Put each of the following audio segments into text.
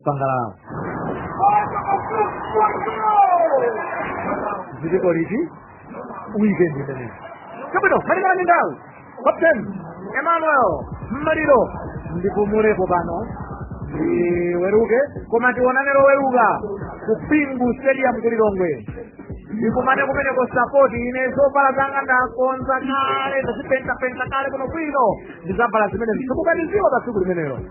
sangalala ziliko liti weekend imeneyi zabwino malingana ndi nthawi captain emmanuel mmaliro ndipumulepo pano ndiweruke koma tionane loweruka ku bingu stadium ku lilongwe ndikumane kumeneko sapoti ine zovala zanga ndakonza kale ndazipentapenta kale kuno bwino ndizavala zimene zikukadziwa pa tsiku limenelo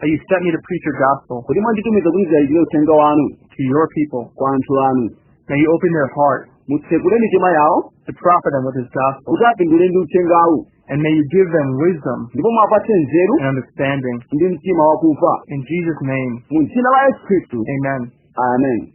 that you sent me to preach your gospel kuti mwanditumiza kuti ndilalikire uthenga wanu to your people. kwa anthu anu May you open their heart mutsekule mitima yawo to profit them with this gospel. kuti apindule ndi uthengawu And may you give them wisdom ndipo mwapatse nzeru and understanding. ndi mtima wakumva In Jesus' name, mu dzina la yesu khristu amen. amen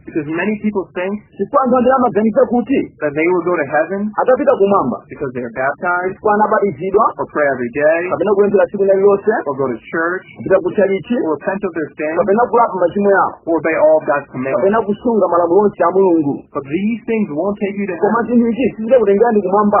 Because many people think chifukwa anthu ambiri amaganiza kuti that they will go to heaven akapita kumwamba because they are baptized chifukwa anabatizidwa or pray every day kapena kupemphera tsiku lina lilonse or go to church kupita ku chalichi or repent of their sins kapena kulapa machimo yawo or obey all of God's commandments. kapena kusunga malamulo onse a mulungu But these things won't take you to koma heaven. zinthu izi sizikakutengerani kumwamba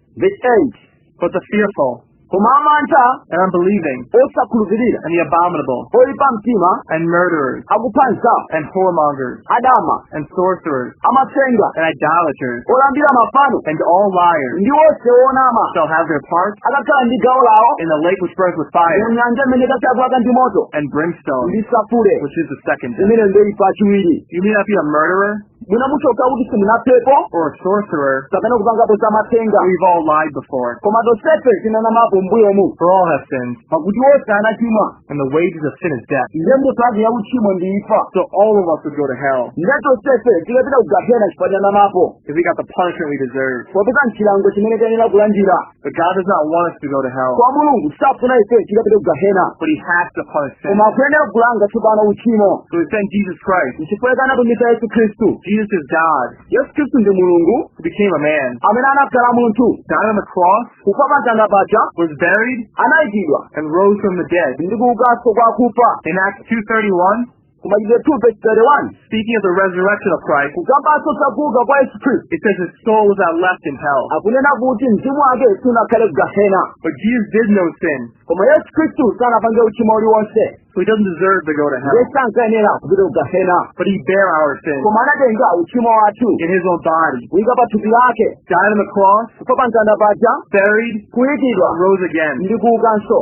Verse 8. But the fearful, koma amantha and unbelieving, osakhulupirira and the abominable, oyipa mtima and murderers, akupha anzawo and whoremongers, adama and sorcerers, amatsenga and idolaters, olambira mafano and all liars ndi onse onama shall have their part akakhala ndi gawo lawo in the lake which burns with fire mu nyanja imene ikayaka ndi moto and brimstone, ndi sulfure which is the second death. imene ndi imfa yachiwiri You may not be a murderer, mwina mutheka kuti simunaphepo or a sorcerer, kapena kupangapo za matsenga we've all lied before. koma tonsefe tinanamapo mbuyomu For all have sinned, pakuti onse anachimwa and the wages of sin is death. ndiye mphotho yake ya uchimo ndi imfa So all of us would go to hell ndiye tonsefe tikapita kugahena chifukwa tinanamapo if we got the punishment we deserve. popeza nchilango chimene tiyenera kulandira But God does not want us to go to hell, koma mulungu safuna ife tikapite ku gahena but He has to punish sin. koma akuyenera kulanga tsopano uchimo So He sent Jesus Christ. nchifukwa chake anatumiza yesu khristu Jesus is God yesu khristu ndi mulungu who became a man, amene anakhala munthu died on the cross, kufa pa mtanda paja was buried, anayikidwa and rose from the dead. ndi kuukanso kwa akufa In Acts 2.31, ku machitidwe chapter 2 verse 31 speaking of the resurrection of Christ, kukambanso zakuuka kwa yesu khristu it says his soul was not left in hell. akunena kuti mzimu wake sunakhale kugahena But Jesus did no sin, koma yesu khristu sanapange uchimo uliwonse so he doesn't deserve to go to hell. iye sankayenera kupita kugahena But he bare our sin koma anatenga uchimo wathu in his own body, kuyika pa thupi lake died on the cross, kufa pa mtanda paja buried, kuyikidwa rose again. ndi kuukanso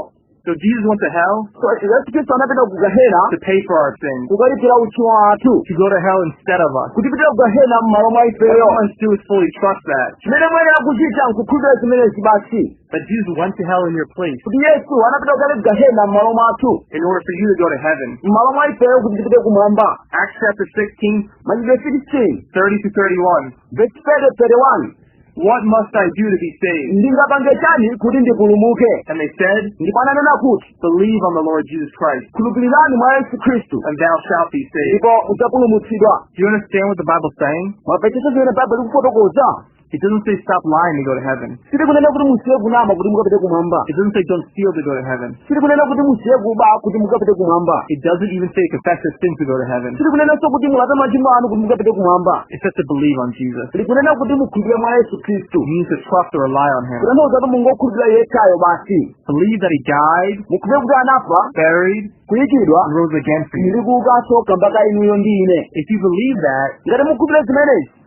So Jesus went to hell So, yesu khristu anapita ku gahena to pay for our sins, kukalipira uchimo wathu to go to hell instead of us. kutipitira ku gahena m'malo mwa All we ifeyo must do is fully trust that. chimene muyenera kuchita nkukhulupirira zimenezi basi That Jesus went to hell in your place kuti yesu anapita kale ku gahena m'malo mwathu in order for you to go to heaven. m'malo mwa ifeyo kuti tipite kumwamba Acts chapter 16, machitidwe 16 30 to 31. vesi 30 31 What must I do to be saved? ndingapange chani kuti ndipulumuke And they said, ndipo ananena kuti Believe on the Lord Jesus Christ, khulupirirani mwa yesu khristu and thou shalt be saved. ndipo udzapulumutsidwa Do you understand what the Bible's saying? mwamvetsetsa zimene baibulo likufotokoza It doesn't say stop lying to go to heaven. silikunena kuti musiye kunama kuti mukapite kumwamba It doesn't say don't steal to go to heaven. silikunena kuti musiye kuba kuti mukapite kumwamba It doesn't even say confess your sins to go to heaven. silikunenanso kuti mulape machimo anu kuti mukapite kumwamba It says to believe on Jesus. likunena kuti mukhulupirire mwa yesu khristu It means to trust or rely on him. kutanthauza kuti mungokhulupirira iye yekhayo basi Believe that he died, mukhulupirire kuti anafa buried, kuyikidwa and rose again for you. ndi kuukanso kamba ka inuyo ndi ine If you believe that, ngati mukhulupirira zimenezi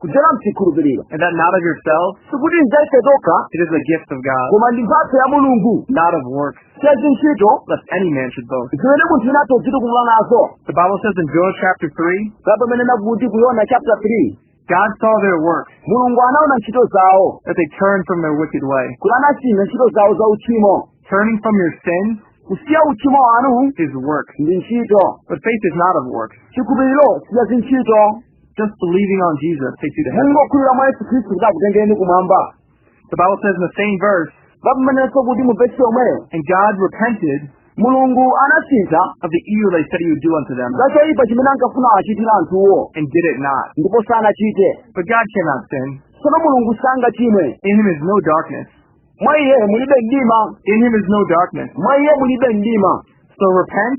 kudzera mchikhulupiriro and that not of yourselves, sikuti nzaife tokha it is the gift of God, koma ndi mphatso ya mulungu not of works, si za ntchito lest any man should boast. zimene munthu wina atha kudzitukumula nazo The Bible says in Jonah chapter 3, ikunena kuti ku yona chapter 3 God saw their works, mulungu anaona ntchito zawo that they turned from their wicked way. kuti anasintha ntchito zawo za uchimo Turning from your sins kusiya uchimo wanu is work, ndi ntchito but faith is not of works. chikhulupiriro si cha zintchito Just believing on Jesus takes you to heaven. mungokhulupirira mwa yesu khristu kuti akutengereni kumwamba The Bible says in the same verse, imanenanso kuti mu vesi yomweyo and God repented mulungu anasintha of the evil that he said he would do unto them, za choyipa chimene ankafuna kuwachitira anthuwo and did it not. ndipo sanachite But God cannot sin. tsono mulungu sangachimwe In him is no darkness. mwa iye mulibe mdima In him is no darkness. mwa iye mulibe mdima So repent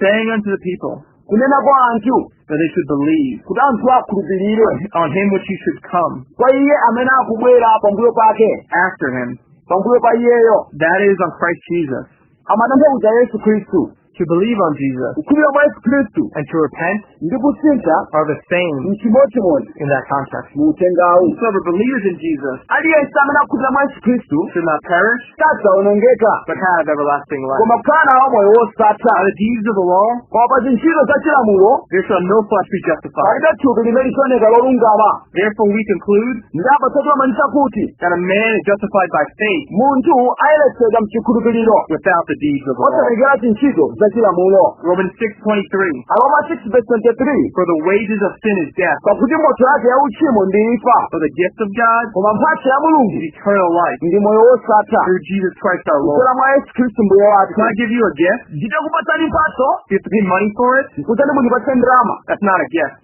saying unto the people kunena kwa anthu that they should believe kuti anthu akhulupirire on him which should come kwa iye amene akubwera pambuyo pake after him, pambuyo pa iyeyo that is on Christ Jesus, amatanthauza yesu khristu to believe on Jesus, kukhulupirira mwa yesu khristu and to repent ndi kusintha are the same mchimodzimodzi in that context. mu uthengawu Whosoever believes in Jesus aliyense amene akhulupirira mwa yesu khristu should not perish, sadzaonongeka but have everlasting life. koma kukhala nawo moyo wosatha By the deeds of the law, koma pa zintchito za chilamulo there shall no flesh be justified. palibe thupi limene lidzaoneka lolungama Therefore we conclude ndipo potero timaliza kuti that a man is justified by faith munthu ayeretsedwa mchikhulupiriro without the deeds of the law. osatengera zintchito za chilamulo Romans 6.23 aroma 6 verse 23 For the wages of sin is death, pakuti mphotho yake ya uchimo ndi imfa but the gift of God koma mphatso ya mulungu is eternal life ndi moyo wosatha through Jesus Christ our Lord. kudzera mwa yesu khristu mbuye wathu Can I give you a gift? nditakupatsani mphatso Do you have to pay money for it? kuti mundipatse ndalama That's not a gift.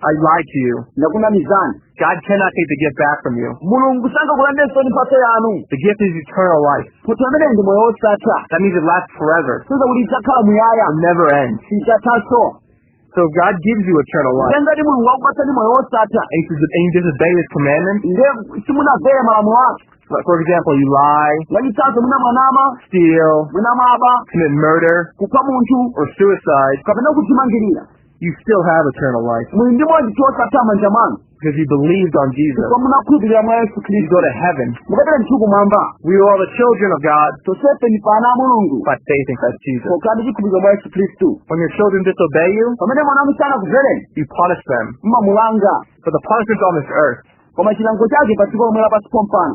I lied to you. ndakunamizani God cannot take the gift back from you. mulungu sangakulandeninso mphatso yanu The gift is eternal life. mphatso imeneyi ndi moyo wosatha That means it lasts forever. kusonyeza kuti idzakhala muyaya It'll never end. sidzathanso So if God gives you eternal life, ngati mulungu akupatsani moyo wosatha and you dis- and you disobey His commandments, nde simunamvere malamulo ake like, for example, you lie, mwachitsanzo mwina mwanama steal, mwina mwaba commit murder, kupha munthu or suicide, kapena kudzimangirira you still have eternal life muli ndi moyo wosatha m'manja mwanu because you believed on Jesus. chifukwa munakhulupirira mwa yesu khristu You go to heaven. mukapita ndithu kumwamba We are all the children of God tonsefe ndi ana a mulungu by faith in Christ Jesus. pokhala ndi chikhulupiriro mwa yesu khristu When your children disobey you, pamene mwana wanu sanakumvereni you punish them. mmamulanga But the punishment on this earth koma chilango chake pa dziko lomwe lapansi pompano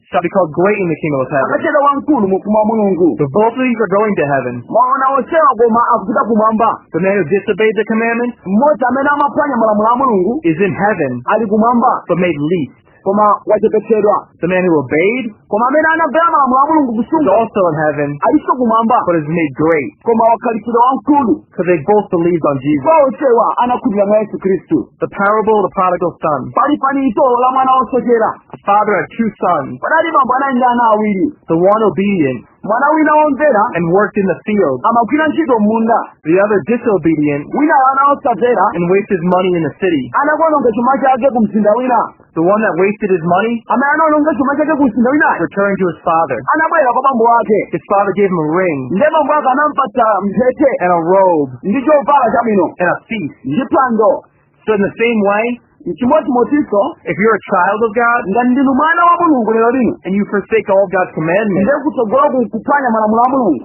shall be called great in the kingdom of heaven. akatchedwa wamkulu mu ufumu wa mulungu So both of these are going to heaven. mwaona onsewa koma akupita kumwamba The man who disobeyed the commandments mmodzi amene amaphwanya malamulo a mulungu is in heaven, ali kumwamba but made least. koma wachepetsedwa The man who obeyed koma amene anamvera malamulo a mulungu kusunga is also in heaven, alinso kumwamba but is made great. koma wakhalitsidwa wamkulu Because they both believed on Jesus. kwa onsewa anakhulupirira mwa yesu khristu The parable of the prodigal son. pali fanizo la mwana wosochera A father had two sons, panali bambo anali ndi ana awiri the one obedient mwana wina womvera and worked in the field, amagwira ntchito m'munda the other disobedient winayo anali wosamvera and wasted money in the city. anakaononga chuma chake ku mzinda wina The one that wasted his money amene anaononga chuma chake ku mzinda winayo returned to his father. anabwera kwa bambo ake His father gave him a ring ndiye bambo ake anampatsa mphete and a robe ndi chovala chabwino and a feast. ndi phwando So in the same way, chimodzimodzinso if you're a child of God ngati ndinu mwana wa mulungu lero lino and you forsake all God's commandments, ndiye kutsogolo kuphwanya malamulo a mulungu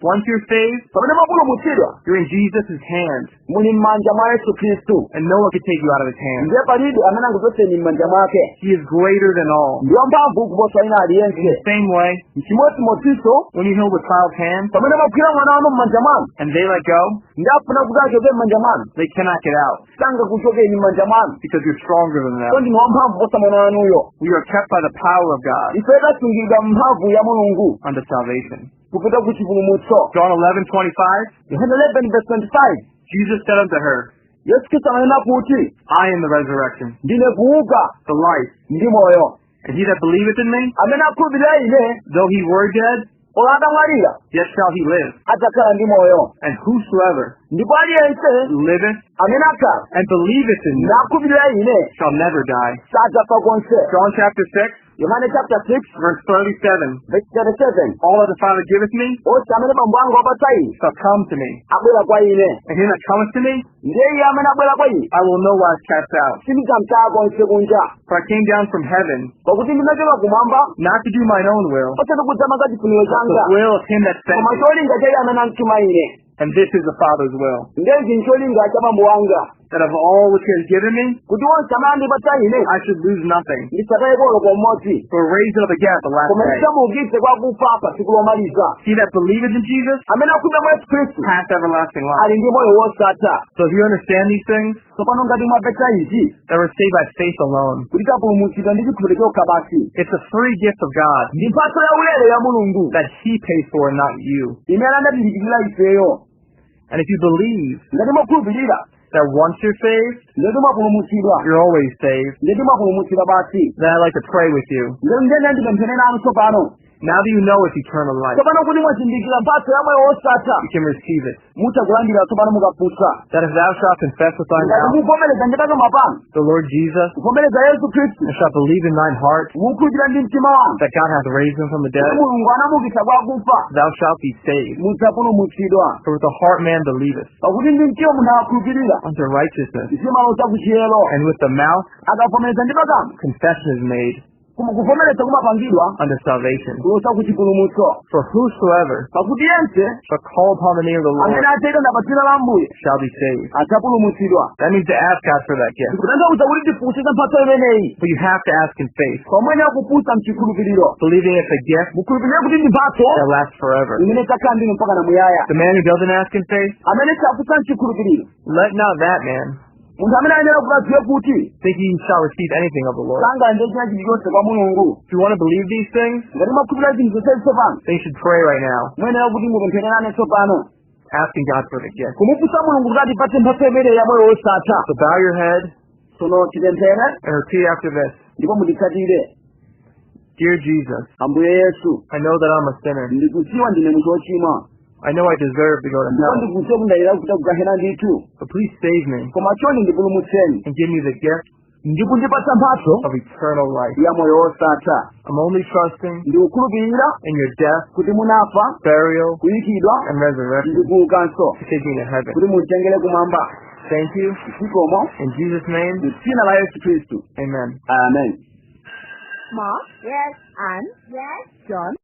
Once you're saved, pamene mwapulumutsidwa you're in Jesus' hand, muli m'manja mwa yesu khristu and no one can take you out of his hand. ndiye palibe amene angakuchotseni m'manja mwake He is greater than all. ndi wamphamvu kuposa wina aliyense In the same way, chimodzimodzinso when you hold a child's hand pamene mwagwira mwana wanu m'manja mwanu and they let go, ndi afuna kuti achoke m'manja mwanu they cannot get out sangakuchokeni m'manja mwanu because you're stronger than them. ndipo ndinu wamphamvu kuposa mwana wanuyo We are kept by the power of God ife tasungidwa m'mphamvu ya mulungu unto salvation. kupita ku chipulumutso John 11, 25. yohane 11 verse 25 Jesus said unto her, yesu khristu ananena kuti I am the resurrection, ndine kuuka the life, ndi moyo and he that believeth in me, amene akhulupirira ine though he were dead, olo atamwalira yet shall he live. adzakhala ndi moyo And whosoever ndipo aliyense liveth amene akhala and believeth in me nakhulupirira ine shall never die. sadzafa konse John chapter 6, Yohane chapter 6 Verse 37. verse 37 All that the Father giveth me onse amene bambo anga wapatsa ine shall come to me, abwera kwa ine and he that cometh to me ndi iye amene abwera kwa ine I will no wise cast out. sindidzamtaya konse kunja For I came down from heaven, pakuti ndinachoka kumwamba not to do mine own will, osati kudzamanga chifuniro but changa the will of him that sent koma me. cholinga cha iye amene anandituma ine And this is the Father's will, ndezi ncholinga cha bambo wanga that of all which he has given me, kuti onse amene andipatsa ine I should lose nothing, ndisataye olo kamodzi but raise it up again at the last koma day. ndidzamuukitse kwa akufa pa tsiku lomaliza He that believeth in Jesus amene akhulupirira mwa yesu khristu hath everlasting life. ali ndi moyo wosatha So if you understand these things, tsopano ngati mwapeza izi that we're saved by faith alone. kuti tapulumutsidwa ndi chikhulupiriro chokha basi It's a free gift of God ndi mphatso ya ulere ya mulungu that He paid for, not you. imene anatilipirira ifeyo And if you believe ngati mwakhulupirira that once you're saved, ngati mwapulumutsidwa you're always saved, ngati mwapulumutsidwa basi then I'd like to pray with you. ndiye ndipemphere nanu tsopano Now that you know it's eternal life, tsopano kuti mwazindikira mphatso ya moyo wosatha you can receive it. mutha kulandira tsopano mukafunsa That if thou shalt confess with thy ngati mouth muvomereza ndi pakamwa panu the Lord Jesus, kuvomereza yesu khristu and shalt believe in thine heart mukhulupirira ndi mtima wanu that God hath raised him from the kuti dead, mulungu anamuukitsa kwa akufa thou shalt be saved. mudzapulumutsidwa For with the heart man believeth pakuti ndi mtima munthu akhulupirira unto righteousness, zimaloza kuchiyero and with the mouth akavomereza ndi pakamwa confession is made koma kuvomereza kumapangidwa unto salvation. kuloza ku chipulumutso For whosoever pakuti yense shall call upon the name of the Lord amene adzayitana pa dzina la ambuye shall be saved. adzapulumutsidwa That means to ask God for that gift. kutanthauza kuti tifunse za mphatso imeneyi But you have to ask in faith, pamene mukufunsa mchikhulupiriro believing it's a gift mukhulupirire kuti ndi mphatso that lasts forever. imene idzakhala ndinu mpaka na muyaya The man who doesn't ask in faith, amene safunsa mchikhulupiriro let not that man munthu amene ayenera kuti adziwe kuti that he shall receive anything of the Lord. sangalandire china chilichonse kwa mulungu If you want to believe these things, ngati mwakhulupirira zinthu zonsezi tsopano then you should pray right now, muyenera kuti tipempherane tsopano asking God for the gift. kumufunsa mulungu kuti atipatse mphatso imeneyi ya moyo wosatha So bow your head tsono tipemphere and repeat after this. ndipo munditsatire Dear Jesus, ambuye yesu I know that I'm a sinner. ndikudziwa ndine munthu wochimwa I know I deserve to go to ndipo hell. ndikudziwa kuti ndayenera kupita ku gehena ndithu But please save me koma chonde ndipulumutseni and give me the gift ndi kundipatsa mphatso of eternal life. ya moyo wosatha I'm only trusting ndikukhulupirira in your death, kuti munafa burial, kuyikidwa and resurrection ndi kuukanso to take me to heaven. kuti munditengere kumwamba Thank you. zikomo In Jesus' name, mu dzina la yesu khristu amen. amen Ma? Yes. Anne? Yes. John?